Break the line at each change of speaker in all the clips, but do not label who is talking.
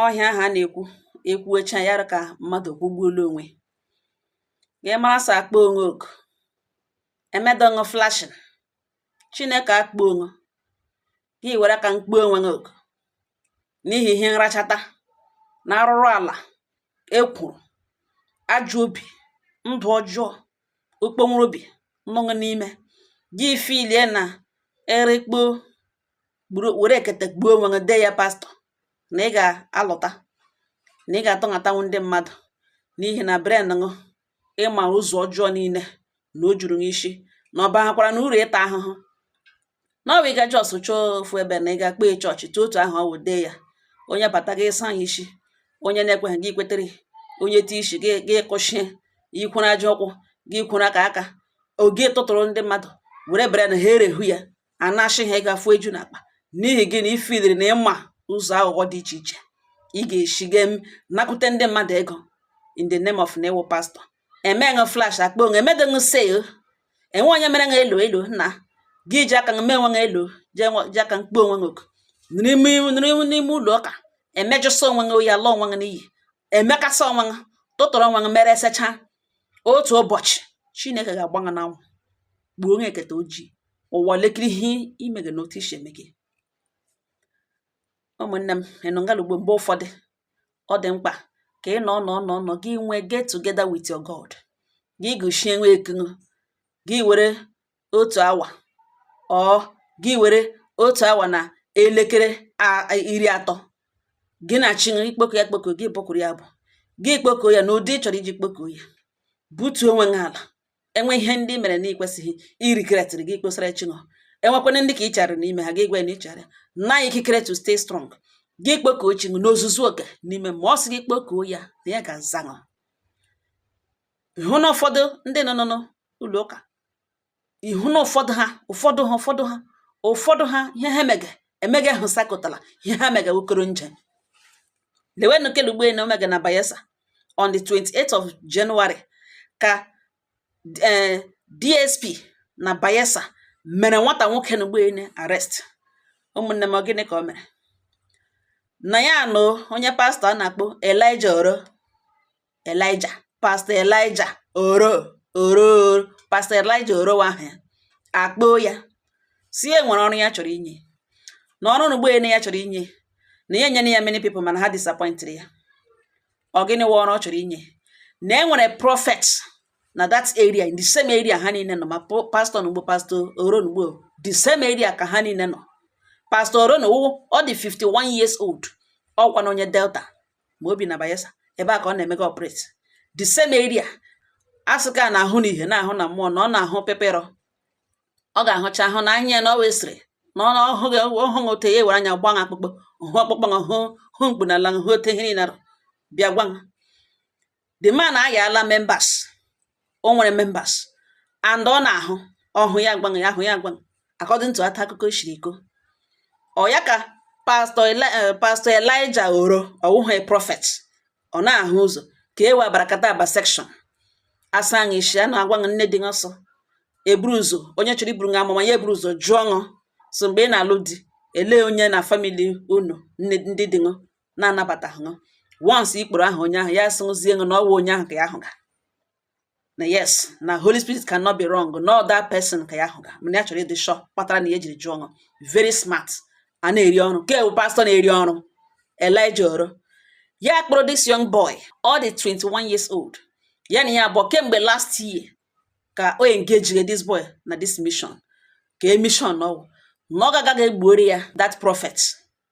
ọ ihe ahụ a na-ekwu ekwuecha ya ka mmadụ kwụgbuola onwe gị mara sọ akpọ ṅụ oku emedọ ṅụ flashing chineke akpọ ṅụ gị were aka kpọ onwe gị oku n'ihi ihe nrachata na arụrụ ala ekworo ajọ obi ndụ ọjọọ ọkpọnwụrụ obi nọ ṅụ n'ime gị filie na erikpo gburu were ekete gbuo onwe gị dee ya pastọ na ị ga-alọta na ị ga-atọnhatanwu ndị mmadụ n'ihi na brain ṅụ ị ma ụzọ ọjọọ niile na o juru ṅụ isi na ọ bahakwara ṅụ uru ịta ahụhụ na ọ bụ ị ga just chọọ ofu ebe na ị ga kpee chọọchị tụ otu ahụ ọ wụ dee ya onye bata gị ị saa ya isi onye na-ekweghị gị kwetere onye ti isi gị gị kụchie ikwere aja ụkwụ gị kwere aka aka oge tụtụrụ ndị mmadụ were bere na ha erehu ya a na-achị ha ego afụ eju n'akpa n'ihi gị na ifiliri na ị ma ụzọ aghụghọ dị iche iche ị ga-esi ga nakute ndị mmadụ ego in the name of na ị wụ pastọ emeghị flash akpọ ṅụ emeghị sale enweghị onye mere ṅụ hello hello na gị ji aka mee onwe ṅụ hello ji aka kpọ onwe ṅụ oku n'ime ụlọ ụka emejọsọ onwe ṅụ oyi ala onwe ṅụ n'iyi emekasị onwe ṅụ tụtụrụ onwe ṅụ mere esecha otu ụbọchị chineke ga-agba ṅụ n'anwụ gbuo onye eketa ojii ụwa lekiri ihe ị mege n'otu i si eme gị ụmụnne m ịnụ ngalugbo mgbe ụfọdụ ọ dị mkpa ka ị nọ nọ nọ nọ gị nwee get together with your God gị gụchie onwe ekunu gị were otu awa ọ gị were otu awa na elekere iri atọ gị na chi gị kpọkuo ya akpọku gị bụkwuru ya abụ gị kpọkuo ya n'ụdị ị chọrọ iji kpọkuo ya butuo onwe gị ala e nwee ihe ndị ị mere na ikwesịghị irigretịrị gị kposara chi ṅụ enwekwana ndị ka ị chara n'ime ha gị gwa na ị chọrọ na ikikere to stay strong gị kpọkuo chi ṅụ n'ozuzuoke n'ime mmụọ ọ sị gị kpọkuo ya na ya ga-aza ṅụ ị hụ na ụfọdụ ndị nọ nọ n'ụlọ ụka ị hụ na ụfọdụ ha ụfọdụ ha ụfọdụ ha ụfọdụ ha ihe ha mege emege ahụ sakụtara ihe ha mege wokoro nje lewenụ ke unu gbo ele o mege na bayelsa on the 28th of January ka eh, DSP na bayelsa mere nwata nwoke unu gbo ele arrest ụmụnne m ọ gịnị ka o mere na ya na onye pastọ a na-akpọ Elijah Oro Elijah Pastor Elijah oro oro Pastor Elijah oro ahụ ya akpọọ ya sị e nwere ọrụ ya chọrọ inye na ọrụ n'ugbo ene ya chọrọ inye na ya enyena ya many people mana ha disappointed ya ọ gịnị wụ ọrụ ọ chọrọ inye na e nwere prophet na that area in the same area ha niile nọ ma pastọ na ugbo pastọ oro na ugbo the same area ka ha niile nọ pastọ oro na ugbo ọ dị 51 years old ọ wụkwanụ onye Delta ma o bi na Bayelsa ebe a ka ọ na-emega operate the same area asụka a na-ahụ n'ihe na-ahụ na mmụọ na ọ na-ahụ peperọ ọ ga-ahụcha ahụ na anya ya na ọ wee sịrị na ọ hụghị ọ hụghị ote ya were anya gba akpụkpọ hụ ọkpụkpụ hụ hụ mkpu na ala hụ ote ihe niile bịa gwa the man ayala members o nwere members and ọ na-ahụ ọhụ ya agwa ṅụ ya ahụ ya agwa ṅụ according to ote akụkọ shiri kọọ ya ka pastọ eh, pastọ elija oro ọ wụghị prọfet ọ na-ahụ ụzọ ka e webara kata aba section asaa ṅụ isi a na-agwa ṅụ ihe dị ụsọ eburu ụzọ onye chọrọ iburu ṅụ amụma ya eburu ụzọ jụọ ṅụ so mgbe ị na-alụ di elee onye na famili unu ndị di ṅụ na-anabata ṅụ once ị kpọrọ aha onye ahụ ya sịzie ṅụ na ọ wụ onye ahụ ka ya hụga na yes na holy spirit cannot be wrong na that person ka ya hụga mana ya chọrọ ịdị sure kpatara na ya ejiri jụọ ṅụ very smart a na-eri ọrụ nke bụ pastọ na-eri ọrụ elija oro ya kpọrọ this young boy ọ dị 21 years old ya na ya abụọ kemgbe last year ka o engage this boy na this mission ka e mission na ọ na ọ ga-aga ga-egbuoro ya that prophet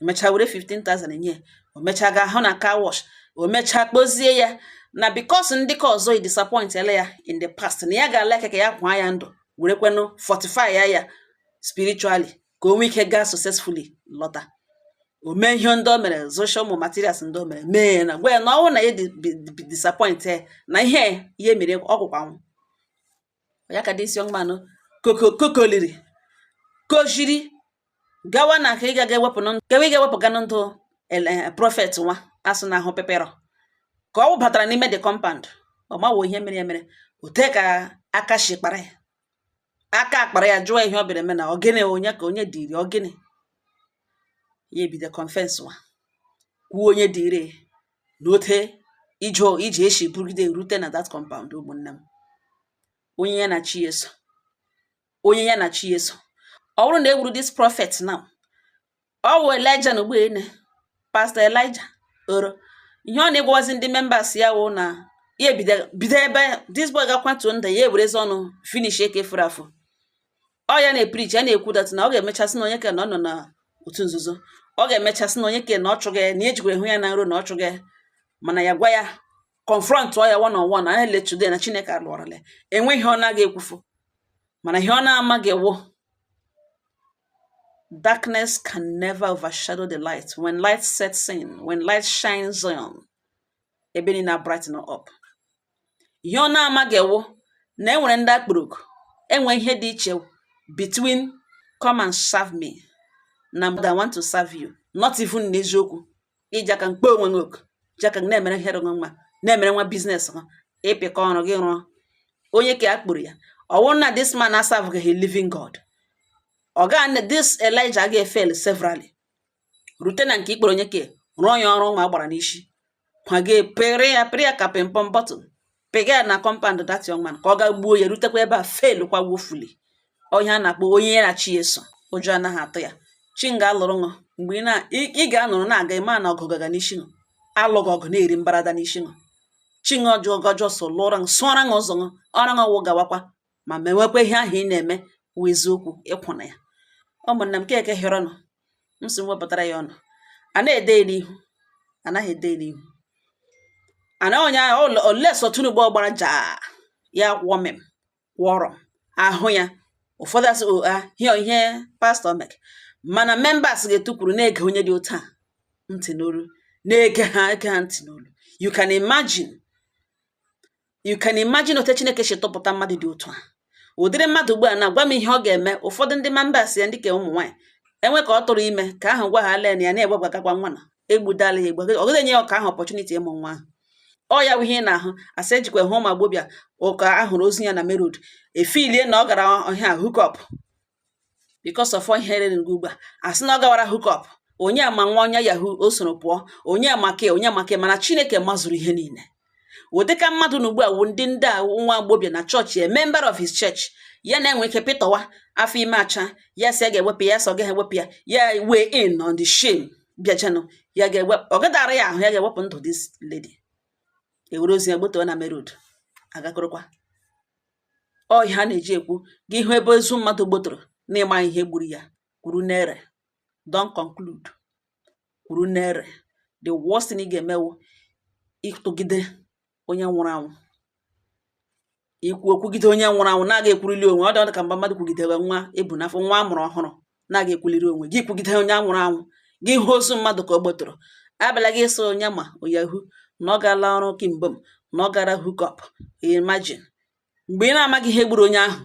emechaa were 15,000 enye o mechaa gaa hụ na car wash o mechaa kpọzie ya na because ndị ke ọzọ edisappointela ya in the past na ya ga-alike ka ya kwaa ya ndụ were kwenụ fortify ya ya spiritually ka o nwee ike gaa successfully lọta o mee ihe ndị o mere zụcha ụmụ materials ndị o mere mee ya na gwa ya na ọ wụrụ na ya disappoint na ihe ihe mere ọgwụkwanwụ ya ka this young man nụ kokoliri koziri gawa na ka ị ga ga-ewepụ kewe ị ga-ewepụga na ndụ eh, prọfet nwa a sụ na-ahụ peperọ ka ọ wụbatara n'ime the compound ọ mawo ihe mere ya mere ote ka aka shi kpara ya aka akpara ya jụọ ihe ọ bịara eme na ọ gịnị onye ka onye dịrị ọ gịnị ya ebido confesswa kwuo onye dịrị n'ote ije ije eshi bụrụgide rute na that compound ụmụnne m onye ya na chi ya so onye ya na chi ya so ọ wụrụ na e gburu this prophet now ọ wụ elija na ugbene pastọ elija oro ihe ọ na-agwazi ndị members ya wụ na ya ebido bido ebe this boy gakwatuo nda ya ewerezi ọnụ finish ke fọrọ afọ ọ ya na-epreach ya na-ekwu that na ọ ga-emecha sị na onye ke na ọ nọ na otu nzuzo ọ ga-emecha sị na onye ke na ọ chụ gị na ejikwa hụ ya na nrọ na ọ chụ gị mana ya gwa ya confrontọ ya one on one na lee today na chineke alụọrọla enwe ihe ọ na-aga ekwufu mana ihe ọ na-amaghị wụ darkness can never overshadow the light when light sets in when light shines on ebe niile brighten up ihe ọ na-amaghị wụ na e nwere ndị a kpọrọ oku enwe ihe dị iche between come and serve me na I want to serve you not even n'eziokwu iji aka akpọ onwe gị oku ji aka gị na-emere ihe rụgụ nwa na-emere nwa business gị ịpịkọ ọrụ gị rụọ onye ke a kpọrọ ya ọ wụrụ na this man aserveghị living God ọ ga this Elijah ga-efail severally rute na nke ikpere onye ke rụọ ya ọrụ ma gbara n'isi ma gị pere ya pere ya ka pịmpọm bottle pega ya na compound that young man ka ọ ga gbuo ya rutekwa ebe a failkwa woefully onye a na-akpọ onye ya na chi ya so ụjọ anaghị atụ ya chi ṅụ ga-alụrụ ṅụ mgbe ị ga-anọrọ na-aga ịma na ọgụ gaga n'isi ṅụ alụghị ọgụ na-eri mbarada n'isi ṅụ chi ṅụ ọjọọ gọjọ so lụọra ṅụ sụọra ṅụ ụzọ ṅụ ọra ṅụ wụ gawakwa ma mewekwa ihe ahụ ị na-eme wụ eziokwu ị kwụ na ya ụmụnna m keke hịọrọ nụ m si wepụtara ya ọnụ a na-ede n'ihu anaghị ede n'ihu ana onye olesọ Tinubu ọ gbara ja ya kwụọ mem kwụọrọ ahụ ya ụfọdụ asị oa ah, hịọ ihe pastor mek mana members ga-etukwuru na-ege onye dị otu a ntị n'olu na-ege ha ege ha ntị n'olu you can imagine you can imagine otu chineke si tụpụta mmadụ dị otu a ụdịrị mmadụ ugbu a na-agwa m ihe ọ ga-eme ụfọdụ ndị members ya ndị ke ụmụ nwaanyị e nwe ke ọ tụrụ ime ke ahụ gwa ha len ya na-egbebagakwa nwa na egbudala ya egbu ọ gaghị enye onye ke ahụ opportunity ịmụ nwa ahụ ọ ya bụ ihe ị na-ahụ asị ejikwa hụ nwa agbọbịa ke a hụrụ ozu ya na main road e feelie na ọ gara ihe hook up because of ihe rere gị ugbu a asị na ọ gawara hook up onye ma ọ wụ onye yahoo o soro pụọ onye ma ke onye ma ke mana chineke mazuru ihe niile ọ dị ka mmadụ na ugbu a wụ ndị ndị a nwa agbọbịa na chọọchị a member of his church ya na-enwe ike pịtọwa afọ ime acha ya sị ya ga-ewepụ ya sị ọ gaghị ewepụ ya ya weighing on the shame bịachanụ ya ga-ewepụ ọ gadara ya ahụ ya ga-ewepụ ndụ this lady e were ozu ya gbotowe na main road a gakọrọkwa ọ ihe a na-eji ekwu gị hụ ebe ozu mmadụ gbotoro na ị maghị ihe gburu ya kwuru n'ere don conclude kwuru n'ere the worst thing ị ga-eme wụ ịtụgide onye nwụrụ anwụ ikwu okwugide onye nwụrụ anwụ na-aga ekwuruli onwe ọ dị ka mgbe mmadụ kwugidere nwa e bu n'afọ nwa a mụrụ ọhụrụ na ị ga-ekwuliri onwe gị kwugide onye nwụrụ anwụ gị hụ ozu mmadụ ka ọ gbọtọrọ abịala gị ịsọ onye ma ọ yahoo na ọ gaala ọrụ kimgbe m na ọ gara hookup imagine mgbe ị na-amaghị ihe gburu onye ahụ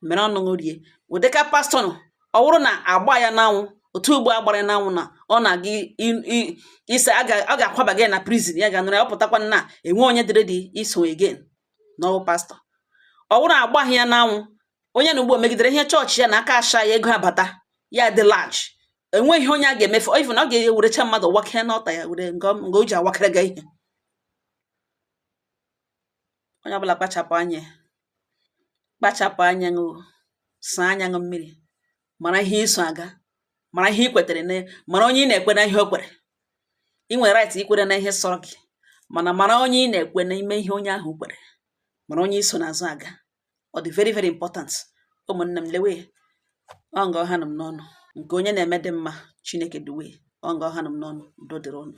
mere ọnụ rie ụdịka pastor nọ ọ bụrụ na a gbaa ya n'anwụ otu ugbo a gbara ya n'anwụ na ọ na-aga ise ọ ga-akwaba gị na prison ya ga-anụrụ ya ọ pụtakwa na enwe onye dịrị dị iso again na ọ wụ pastor ọ bụrụ na agbaghị ya n'anwụ onye na ugbo megidere ihe chọọchị ya na aka asha ya ego abata ya dị large enweghị onye a ga-emefu even ọ ga-ewerecha mmadụ wakee n'ọta ya were nga o ji awakere gị ihe onye ọbụla kpachapụ anya kpachapụ anya ụnụ saa anya ụnụ mmiri mara ihe i so aga mara ihe i kwetere na mara onye ị na-ekwe na ihe o kwere ị nwere right ikwere na ihe sọrọ gị mana mara onye ị na-ekwe n'ime ihe onye ahụ kwere mara onye i so n'azụ aga ọ dị very very important ụmụnne m lewe ọ nga ọ hanụ m n'ọnụ nke onye na-eme dị mma chineke duwe ọ nga ọ hanụ m n'ọnụ udo dịrị ụnụ